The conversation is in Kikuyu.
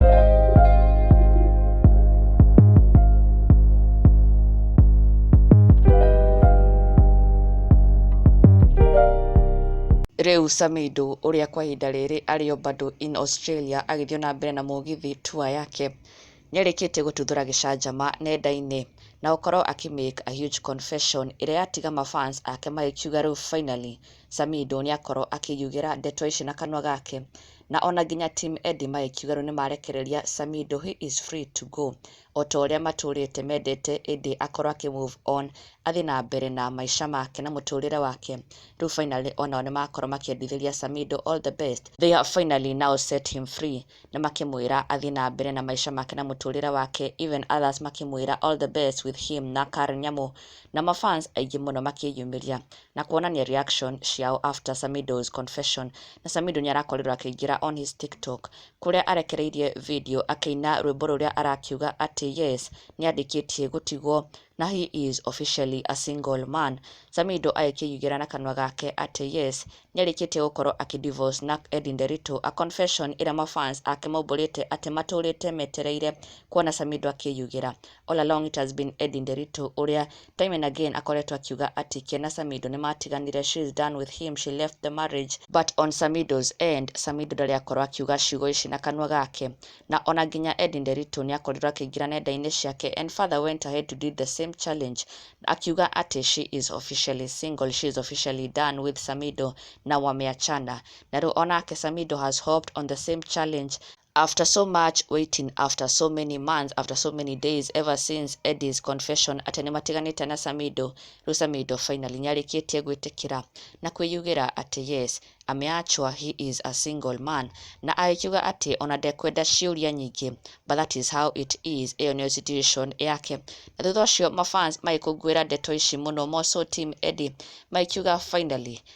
Rĩu Samido, ũrĩa kwa ihinda rĩrĩ arĩ o bado in Australia agĩthiĩ na mbere na mũgithi tour yake, nĩarĩkĩtie gũtuthũra gĩcanjama nenda-inĩ na gũkorwo akĩ make a huge confession ĩrĩa yatiga ma fans ake magĩkiuga rĩu finally Samido nĩakorwo akĩyugĩra ndeto ici na kanua gake na ona nginya Team Eddie magĩkiuga rĩu nĩmarekereria Samido he is free to go o ta ũrĩa matũrĩte mendete ĩndĩ akorwo akĩ move on athiĩ na mbere na maica make na mũtũrĩre wake rĩu finally o nao nĩmakorwo makĩendithĩria Samido all the best they have finally now set him free nĩ makĩmwĩra athiĩ na mbere na maica make na mũtũrĩre wake even others makĩmwĩra all the best with him na Karen Nyamu na ma fans aingĩ mũno makĩyumĩria na kuonania reaction ciao after Samidoh's confession na Samidoh nĩ arakorirwo akĩingĩra on his TikTok kũrĩa arekereirie video akĩina rwĩmbo rũrĩa arakiuga atĩ yes nĩ arĩkĩtie gũtigwo na he is officially a single man Samidoh agĩkĩigĩra na kanua gake atĩ yes nĩ arĩkĩtie gũkorwo akĩ divorce na Eddie Nderito a confession ĩrĩa ma fans ake maumbũrĩte atĩ matũrĩte metereire kuona Samidoh akĩyugĩra All along it has been Eddie Nderitu ũrĩa time and again akoretwo akiuga atĩ Ken na Samido nĩ maatiganire, she is done with him, she left the marriage. But on Samido's end, Samido ndarĩ akorwo akiuga ciugo ici na kanua gake. Na o na nginya Eddie Nderitu nĩ akorirwo akĩingĩra nenda-inĩ ciake and further went ahead to did the same challenge akiuga atĩ she is officially single, she is officially done with Samido na wameachana. Na rĩu o nake Samido has hopped on the same challenge After so much waiting, after so many months, after so many days, ever since Eddie's confession atĩ nĩmatiganĩte na Samido, rĩu Samido finally nĩarĩkĩtie gwĩtĩkĩra na kwĩyugĩra atĩ yes, ameachwa he is a single man, na agĩkiuga atĩ ona ndekwenda ciũria nyingĩ, but that is how it is, ĩyo nĩyo situation yake. Na thutha ũcio mafans magĩkũngũĩra ndeto ici mũno, more so team Eddie, magĩkiuga finally